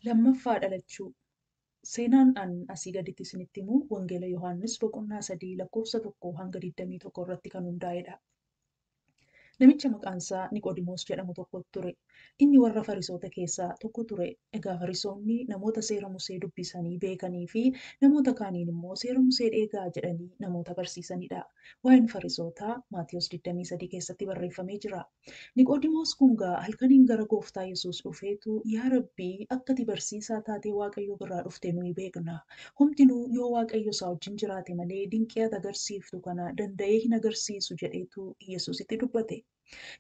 Lammaffaa dhalachuu. Seenaan an asii gaditti isinitti himu Wangeela Yohaannis boqonnaa 3 lakkoofsa 1 hanga 21 irratti kan hundaa'edha. Namicha maqaan isaa Niqoodimoos jedhamu tokko ture. Inni warra Farisoota keessaa tokko ture. Egaa Farisoonni namoota seera Musee dubbisanii beekanii fi namoota kaaniin immoo seera Musee dheegaa jedhanii namoota barsiisanidha. Waa'een Farisootaa Maatiyos 23 keessatti barreeffamee jira. Niqoodimoos kun gaa halkaniin gara gooftaa Yesuus dhufeetu yaa Rabbii akka ati barsiisaa taatee Waaqayyoo birraa dhufte nuyi beekna. Homtinuu yoo Waaqayyo isaa wajjin jiraate malee dinqii ati agarsiiftu kana danda'ee hin agarsiisu jedheetu Yesuusitti dubbate.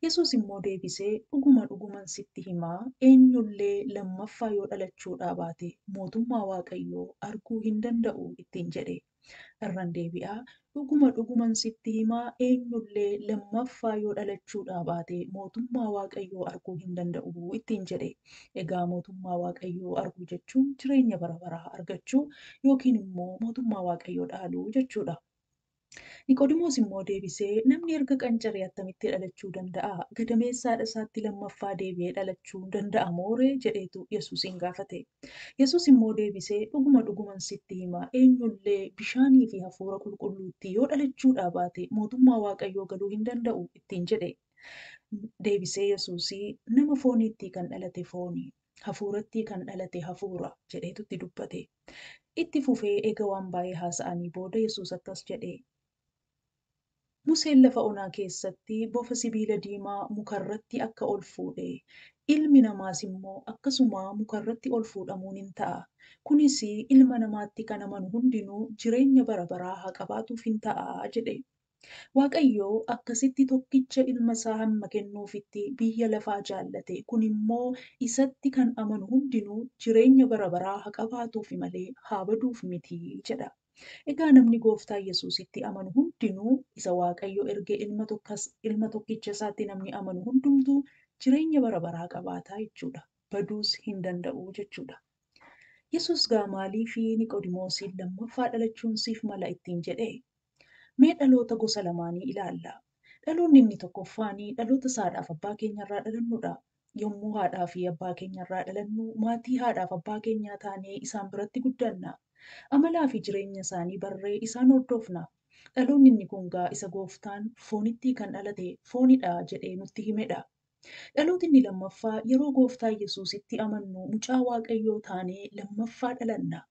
Yesuus immoo deebisee dhuguma dhuguman sitti hima eenyullee lammaffaa yoo dhalachuudhaa baate mootummaa Waaqayyoo arguu hin danda'u ittiin jedhee. Irran deebi'a, dhuguma dhuguman sitti hima, eenyullee lammaffaa yoo dhalachuudhaa baate mootummaa Waaqayyoo arguu hin danda'u ittiin jedhe. Egaa mootummaa Waaqayyoo arguu jechuun jireenya bara baraa argachuu yookiin immoo mootummaa Waaqayyoo dhaaluu jechuudha. Niqodimoos immoo deebisee, Namni erga qancaree attamitti dhalachuu danda'a? Gadameessa haadha isaatti lammaffaa deebi'ee dhalachuu danda'a moo ree? jedheetu Yesuusiin gaafate. Yesuus immoo deebisee, Dhuguma dhuguman sitti hima, eenyu illee bishaanii fi hafuura qulqulluuttii yoo dhalachuudhaa baate mootummaa Waaqayyoo galuu hin danda'u ittiin jedhe. Deebisee Yesuus, Nama fooniittii kan dhalate fooni, hafuurattii kan dhalate hafuura jedheetu itti dubbate. Itti fufee eega waan baay'ee haasa'anii booda Yesuus akkas jedhe, Museen lafa onaa keessatti bofa sibiila diimaa muka irratti akka ol fuudhe, Ilmi Namaas immoo akkasuma muka irratti ol fuudhamuun in ta'a, kunis Ilma Namaatti kan amanu hundinuu jireenya bara baraa haa qabaatuuf in ta'a jedhe. Waaqayyo akkasitti tokkicha Ilma isaa hamma kennuufitti biyya lafaa jaallate, kun immoo isatti kan amanu hundinuu jireenya bara baraa haa qabaatuufi malee haa baduuf miti jedha. Egaa namni Gooftaa Yesuusitti amanu hundinuu, isa Waaqayyo erge ilma tokkas, ilma tokkicha isaatti namni amanu hundumtuu jireenya bara baraa qabaata jechuu dha, baduus hin danda'u jechuu dha. Yesuus gaa maaliifi Niqoodimoosiin lammaffaa dhalachuun siif mala ittiin jedhe? Mee dhaloota gosa lamaanii ilaalla. Dhaloonni inni tokkoffaani dhaloota saadhaaf abbaa keenya irraa dhalannu dha. Yommuu haadhaa fi abbaa keenya irraa dhalannu, maatii haadhaa fi abbaa keenyaa taanee isaan biratti guddanna. Amalaa fi jireenya isaanii barree isaan hordofna. Dhaloonni inni kun gaa isa Gooftaan, Foonittii kan dhalate fooni dha jedhee nutti hime dha. Dhalooti inni lammaffaa yeroo Gooftaa Yesuusitti amannu mucaa Waaqayyoo taanee lammaffaa dhalanna.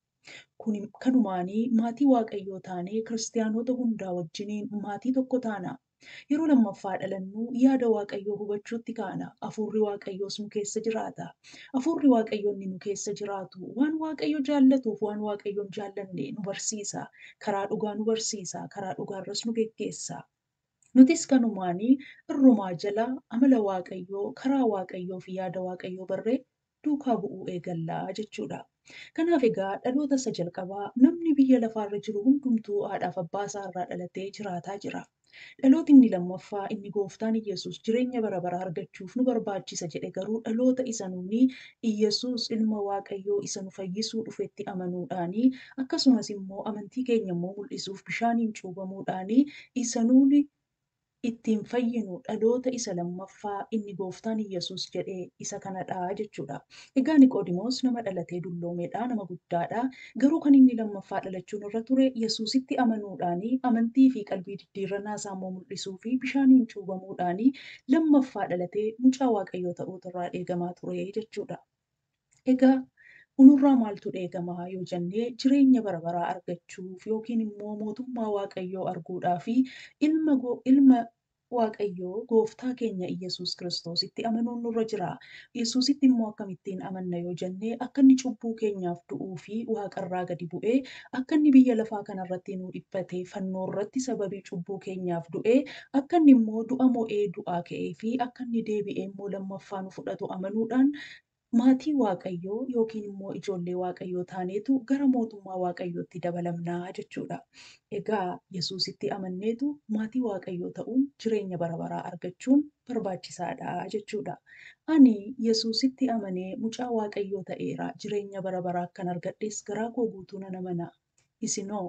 Kun kanumaanii maatii Waaqayyoo taanee Kiristiyaanota hundaa wajjiniin maatii tokko taana. Yeroo lammaffaa dhalannu yaada Waaqayyoo hubachuutti kaana, Hafuurri Waaqayyoos nu keessa jiraata. Hafuurri Waaqayyoo inni nu keessa jiraatu waan Waaqayyo jaallatuuf waan Waaqayyoon jaallanne nu barsiisa, karaa dhugaa nu barsiisa, karaa dhugaarras nu geggeessa. Nutis kanumaan irrumaa jala amala Waaqayyoo, karaa Waaqayyoo fi yaada Waaqayyoo barree duukaa bu'uu eegalla jechuu dha. Kanaaf egaa dhaloota isa jalqabaa namni biyya lafaa irra jiru hundumtuu haadhaaf abbaa isaa irraa dhalatee jiraataa jira. Dhalooti inni lammaffaa inni gooftaan Iyyasuus jireenya bara baraa argachuuf nu barbaachisa jedhe garuu dhaloota isa nuuni Iyyasuus ilma Waaqayyoo isa nu fayyisuu dhufetti amanuudhaani Akkasumas immoo amantii keenya immoo mul'isuuf bishaaniin cuubamuudhaan isa nuuni ittiin fayyinu dhaloota isa lammaffaa inni gooftaan Iyyasuus jedhe isa kanadha jechuudha. Egaa Niqoodimoos nama dhalatee dulloomeedha, nama guddaadha. Garuu kan inni lammaffaa dhalachuun irra ture Yesuusitti amanuudhaan amantii fi qalbii diddiirrannaa isaa immoo mul'isuu fi bishaaniin cuubamuudhaan lammaffaa dhalatee mucaa Waaqayyoo ta'uutu irraa eegamaa ture jechuudha. Egaa nurraa maaltu eegama yoo jenne jireenya bara baraa argachuuf yookiin immoo mootummaa Waaqayyoo arguudhaa fi ilma ilma Waaqayyoo gooftaa keenya Iyyasuus Kiristoositti amanuun nurra jira. Yesuusitti immoo akkamittiin amanna yoo jenne akka inni cubbuu keenyaaf du'uu fi waaqarraa gadi bu'ee Akka inni biyya lafaa kana irratti nuu dhiphate, fannoo irratti sababii cubbuu keenyaaf du'e, akka inni immoo du'a mo'ee du'aa ka'ee fi akka inni deebi'ee immoo lammaffaa nu fudhatu amanuudhaan maatii Waaqayyoo yookiin immoo ijoollee Waaqayyoo taaneetu gara mootummaa Waaqayyootti dabalamna jechuu dha. Egaa Yesuusitti amanneetu maatii Waaqayyoo ta'uun jireenya bara baraa argachuun barbaachisaa dha jechuu dha. Ani Yesuusitti amanee mucaa Waaqayyoo ta'eera, jireenya bara baraa akkan argadhes garaa koo guutuu nan amana. Isin hoo?